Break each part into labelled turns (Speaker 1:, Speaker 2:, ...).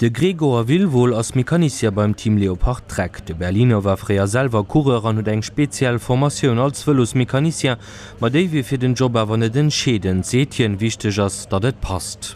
Speaker 1: De Gregor Wilwohl ass Mecanicier beim Team Leopard Trek. De Berliner war fréier selwer Coureur an huet eng speziell Formatioun als Vëlosmecanicien, ma déi wier fir den Job awer net entscheedend, seet hien, wichteg ass, datt et passt.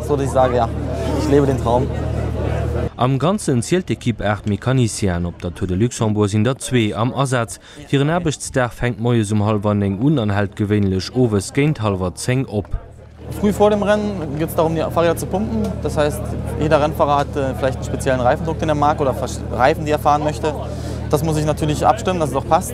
Speaker 2: Sollt ech sagen, ja, ich lebe den Traum. Am
Speaker 1: Ganzen zielt d'Ekipp 8 Mécaniciens an op der Tour de Luxembourg sinn der zwee am Asaz. Hiren Aarbechtsdag fänkt moies um hallwer néng un an hält gewéinlech owes géint hallwer zéng op. Früh vor dem
Speaker 2: Rennen geht es darum, die Fahrräder zu pumpen. Das heißt, jeder Rennfahrer hat vielleicht einen speziellen Reifendruck, den er mag, oder Reifen, die er fahren möchte. Das muss ich natürlich abstimmen, dass es auch passt.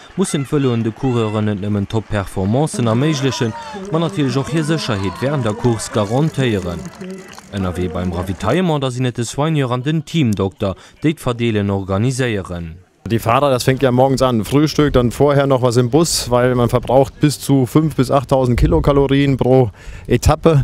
Speaker 1: mussen d'Vëloen de Coureuren net nëmmen Top-Performancen erméiglechen, ma natierlech och hir Sécherheet wärend der Course garantéieren. Ënnerwee beim Ravitaillement da sinn et de Soigneur an den Teamdokter, déi d'Verdeelen organiséieren. Die Fahrer, das
Speaker 3: fängt ja morgens an, Frühstück, dann vorher noch was im Bus, weil man verbraucht bis zu 5 bis 8.000 Kilokalorien pro Etappe.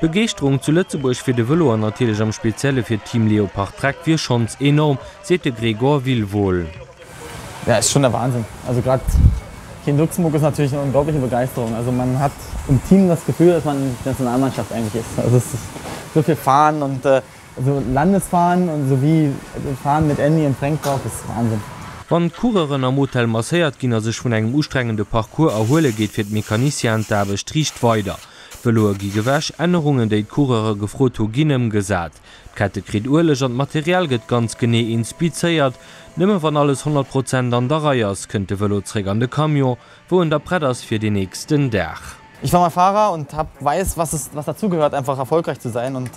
Speaker 4: D'Begeeschterung zu
Speaker 1: Lëtzebuerg fir de Vëlo an natierlech am Spezielle fir d'Team Leopard Trek wier schonns enorm, seet de Gregor Wilwohl. Ja, et ass
Speaker 2: schonn der Wahnsinn. Also grad hien Luxemburg ass natierlech eng onglaubliche Begeisterung. Also man hat um Team das Gefühl, dass man die Nationalmannschaft eigentlich ist. Also es ist so viel Fahnen und also Landesfahnen und so wie Fahnen mit Andy und Frank drauf, das ist Wahnsinn. Wann d'Coureuren
Speaker 1: am Hotel masséiert ginn a sech vun engem ustrengende Parcours erhuele geet fir d'Mecanicienen d'Aarbecht riicht weider. D'Vëloe gi gewäsch, Ännerungen, déi d'Coureure gefrot hu ginn ëmgesat. D'Kette kritt Ueleg an d'Material gëtt ganz genee inspizéiert. Nëmme wann alles 100 Prozent an der Rei ass, kënnt de Vëlo zréck an de Camion, wou en da prett ass fir deen nächsten Dag. Ich war mal Fahrer
Speaker 2: und hab weiß was es was dazu gehört einfach erfolgreich zu sein und